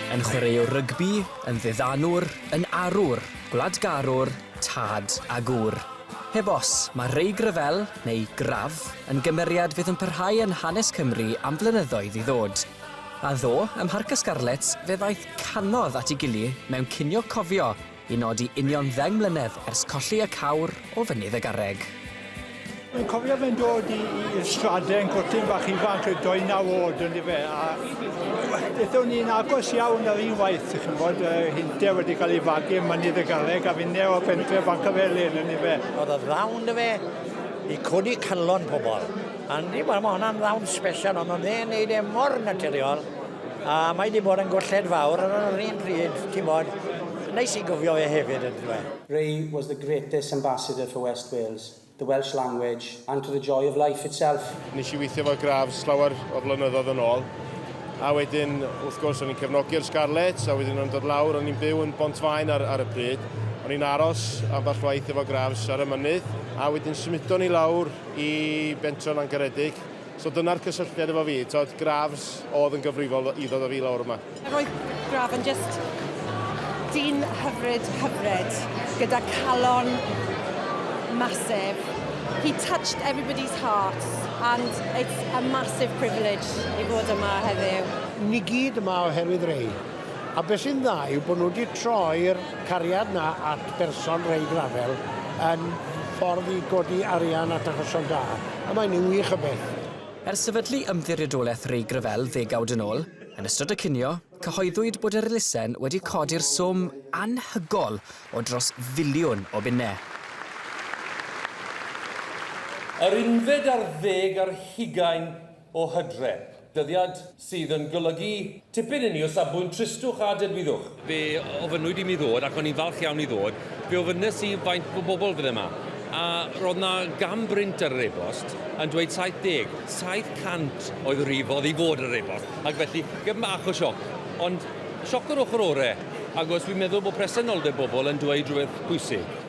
Yn chwaraewr rygbi, yn ddiddanwr, yn arwr, gwladgarwr, tad a gŵr. Heb os, mae Reig Ryfel, neu Graf, yn gymeriad fydd yn parhau yn hanes Cymru am flynyddoedd i ddod. A ddo, ym Mharc y Scarlets fe ddaeth canodd at ei gily mewn cinio cofio I nodi union ddeng mlynedd ers colli y cawr o fynydd y garreg. Dwi'n cofio fe'n dod i, i'r straden, cwrtyn bach ifanc, y doi naw oed yn efe, a ethon ni'n agos iawn ar un waith, chi'n bod, uh, hynte wedi cael ei fagu yn mynydd y garreg, a finne o fentre fan cyfelyn yn efe. Oedd y ddawn dy fe i codi calon pobl. Andy, wel, mae hwnna'n ddawn special, ond oedd e'n neud e mor naturiol, A mae 'di bod yn golled fawr ond ar yr un pryd, ti'n bod, neis i gofio fe hefyd yndyw e? Ray was the greatest ambassador for West Wales, the Welsh language, and to the joy of life itself. Nes i weithio efo Grafs llawer o flynyddoedd yn ôl, a wedyn wrth gwrs o'n i'n cefnogi'r Scarlets, a wedyn o'n i'n dod lawr, o'n i'n byw yn Bontfaen ar, ar y pryd, o'n i'n aros ambell waith efo Grafs ar y mynydd, a wedyn symudon ni lawr i Bentre Langaredig. So dyna'r cysylltiad efo fi, t'od, Grafs oedd yn gyfrifol i ddod a fi lawr yma. Roedd Graf yn jyst dyn hyfryd, hyfryd, gyda calon massive. He touched everybody's hearts and it's a massive privilege i fod yma heddiw. Ni gyd yma oherwydd Ray. A beth sy'n dda yw bod nhw wedi troi'r cariad 'na at berson reid rafel yn ffordd i godi arian at achosion da, a mae'n un wych o beth. Ers sefydlu Ymddiriedolaeth Reig Ryfel ddegawd yn ôl, yn ystod y cinio, cyhoeddwyd bod yr elusen wedi codi'r swm anhygol o dros filiwn o bunnau. Yr unfed ar ddeg ar hugain o Hydre, dyddiad sydd yn golygu tipyn inni o safbwynt tristwch a dedwyddwch. Fe ofynnwyd i mi ddod, ac o'n i'n falch iawn i ddod, fe ofynnes i faint o bobl fydde 'ma, a roedd 'na gan brint ar yr e-bost yn dweud 70, 700 oedd y rif oedd i fod ar yr e-bost, ac felly gef bach o sioc, ond sioc yr ochr ore', agos dwi'n meddwl bod presenoldeb bobl yn dweud rhywbeth pwysig.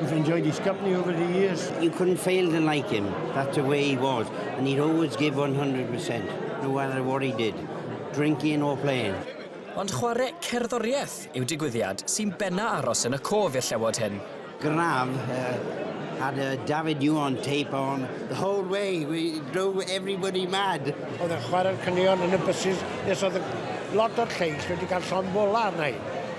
We've enjoyed his company over the years. You couldn't fail to like him. That's the way he was. And he'd always give 100%, no matter what he did, drinking or playing. Ond chwarae cerddoriaeth yw digwyddiad sy'n benna aros yn y cof i'r llewod hyn. Graf, uh, had a David Yuan tape on the whole way. We drove everybody mad. Oedd yn chwarae'r cynnion yn y buses nes oedd lot o'r lleill wedi cael llon fola arna i.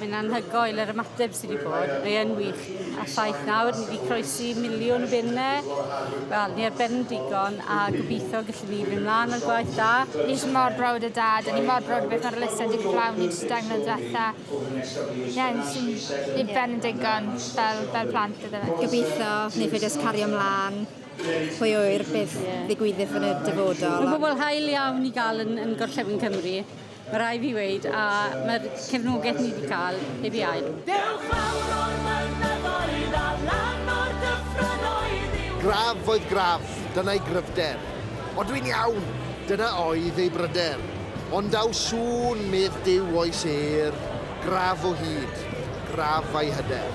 Mae'n anhygoel yr ymateb sydd wedi bod, mae yn wych. A ffaith nawr, ni wedi croesi miliwn o bunnau, wel, ni ar ben yn digon, a gobeithio gallwn ni fynd mlaen o'r gwaith da. Ni eisiau mor brawd o dad, a ni mor brawd o beth mae'r Elusen wedi cyflawn ni dros y dair mlynedd diwetha. Ie, ni sy'n ni ar ben yn digon, fel, fel plant, iddo fe. Gobeithio, ni fe jyst cario mlaen, pwy ŵyr beth ddigwyddith yn y dyfodol. Mae'n gwbl hael iawn i gael yn, yn Gorllewin Cymru. Mae rhaid fi weud, a mae'r cefnogaeth ni wedi cael heb ei ail. Dewch fawr o'r mynyddoedd a lan o'r dyffrynnoedd i'w... Graf oedd Graf, dyna'i gryfder. O dwi'n iawn! Dyna oedd ei bryder. Ond daw sŵn, medd Duw oes êr. Graf o hyd, graf a'i hyder.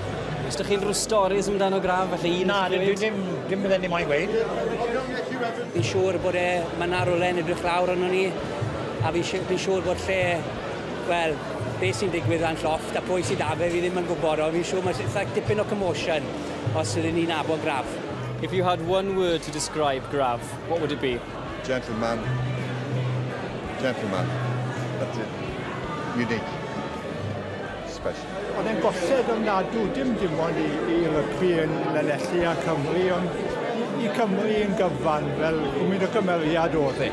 Os dych chi'n rhyw storis amdano graf, falle un Na, dwi ddim, dim bydden ni moyn gweud. Fi'n siŵr bod e, mae yna rywle yn edrych lawr arno ni, a fi'n si- fi'n siŵr bod lle, wel, be sy'n digwydd lan llofft a pwy sydd 'da fe, fi ddim yn gwybod, ond fi'n siŵr mae eitha dipyn o commotion os ydyn ni'n nabod graf. If you had one word to describe Graf, what would it be? Gentleman, gentleman, that's it. Unique. Special. Oedd e'n bosib ymnadw, dim dim ond i, i rygbi yn Lanelli a Cymru, ond i, i Cymru yn gyfan, fel gwmyn o gymeriad oedd e.